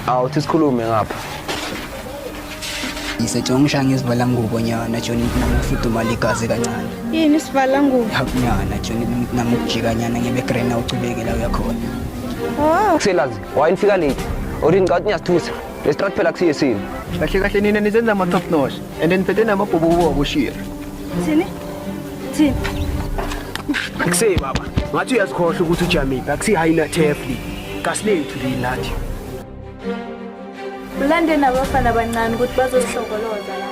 awuthi sikhulume ngapha ngisetshongisha ngisivala ngubo nyana joni kunami kufudumala igazi kancane yini isivala ngubo nyana joni kunami ukujika nyana ngebegrena ucubekela uyakhona oh. kuselazi wayini fika late or ngicabanga ukuthi ngiyasithusa lesitrathi phela kusiye sini kahle kahle nina nizenza ama-top notch and niphethe namabhubu kubo akushira thini Thini? Akusey baba, ngathi uyazikhohla ukuthi ujamile, akusi high nut hefli. Kasilethu le nathi. Ulande nabafana abancane ukuthi bazozihlokoloza la.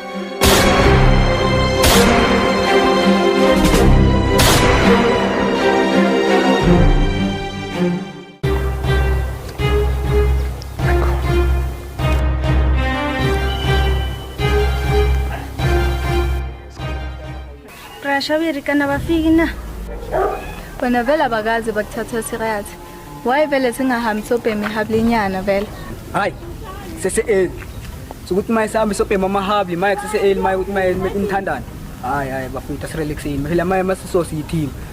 Thank you. Prasha kana bafiki na? Bona vele abakaze bakuthatha serious. Why vele singahambi sobhemi hablinyana vele? Hayi. Sese eli. Sokuthi maye sihambe sobhema amahabli, maye sese eli, maye ukuthi maye imthandane. Hayi hayi bafuna ukuthi asirelexini. Phela maye masisosi yithini.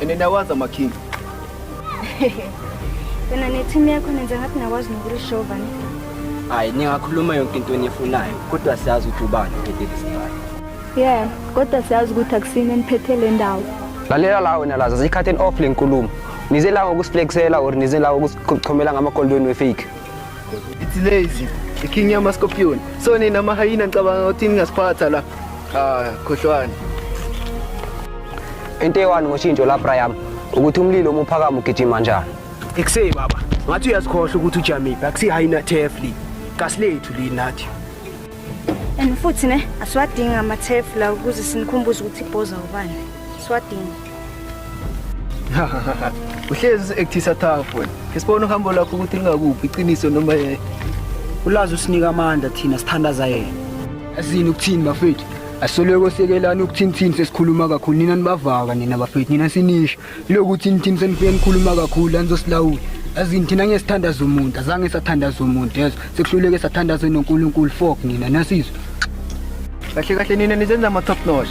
And nawazi amakhinga. Wena ne-team yakho nenza ngathi nakwazi nokulishova ne. Hayi ningakhuluma yonke into enifunayo kodwa siyazi ukuthi ubani ophethe lesigaba. Yeah, kodwa siyazi ukuthi akusini eniphethe le ndawo. Lalela la wena laza sikhatheni off lenkulumo. Nize la ngokusiflexela or nize la ngokusichomela ngamakolweni wefake. It's lazy. The king yama scorpion. So nina mahayina ngicabanga ukuthi ningasiphatha la. Ah, khohlwani. Into ewani ngoshintsho la Brian ukuthi umlilo uma uphakama ugijima njani. Ekusey baba, ngathi uyasikhohla ukuthi ujamiphi, akusi high na tefli. Kasilethu li nathi. And futhi ne asiwadingi ama tefla ukuze sinikhumbuze ukuthi ibhoza ubani. Siwadingi. uhlezi usi-actisa tough wena ke sibone uhambo lakho ukuthi lingakuphi iqiniso noma yeye ulazi usinika amandla thina sithandaza yena asini ukuthini bafethu asoloko sekelani ukuthinithini sesikhuluma kakhulu nina nibavaka nina bafethu nina sinisho ilokuthi nithini senifike nikhuluma kakhulu anizosilawula azini thina ngeke sithandaze umuntu azange sathandaza umuntu yezo sekuhluleke sathandaze nonkulunkulu fok nina nasizwa kahle kahle nina nizenza ama-top notch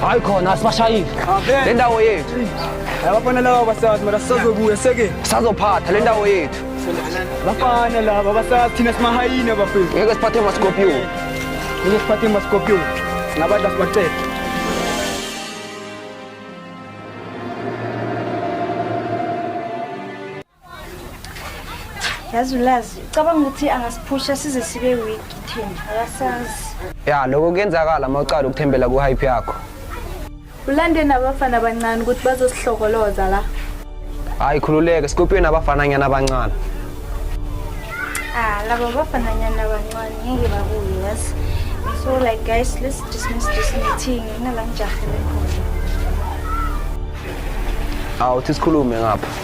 hayi khona asibashayile le ndawo yethu yababona lawa basazi mara sisazobuya seke sazophatha le ndawo yethu Bafana laba basazi thina simahayini abafethu. Ngeke siphathe amaScorpio. Ngeke siphathe amaScorpio. Singabadla sibacele. yazi ulazi ucabanga ukuthi angasiphusha size sibe weak thina akasazi ya lokho kuyenzakala uma ucala ukuthembela ku-hype yakho Ulande nabafana abancane ukuthi bazosihlokoloza la. Hayi khululeke, sikuphiwe nabafananyana abancane. Ah, laba bafananyana abancane ngeke babuye yazi. So like guys, let's dismiss this meeting. Ngingala ngijahele khona. Awuthi sikhulume ngapha.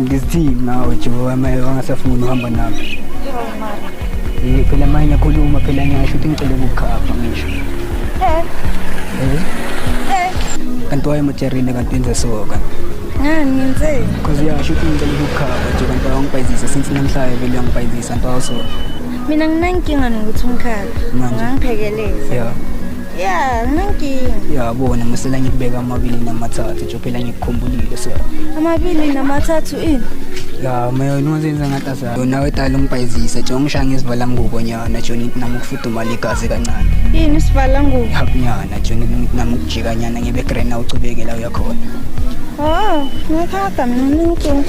Ngizithini ngawe Jehova maye wangasafuni uhamba nami. Eh phela manje ngiyakhuluma phela ngiyasho ukuthi ngicela ukukhapha ngisho. Eh. Eh. Eh. Kanti wayemujerine kanti wenze so kanti. Ngani ngenzeni? Cause uyasho ukuthi ngicela ukukhapha nje kanti wangibhayizisa since namhlanje vele uyangibhayizisa nto so. Mina nginankinga nokuthi umkhapha. Manje. Ungangiphekeleza. Yeah. ya nginenkinga yabona musela ngikubeka amabili namathathu nje phela ngikukhumbulile so amabili namathathu ini ya mayo nozenza ngathi asayo yona wetala ungibhayizise nje ungishaye ngezivala ngubo nyana joni nami ukufudumala igazi kancane yini sivala ngubo yap nyana joni nami ukujika nyana ngibe grena ucubekela uyakhona oh ngikhatha mina nginenkinga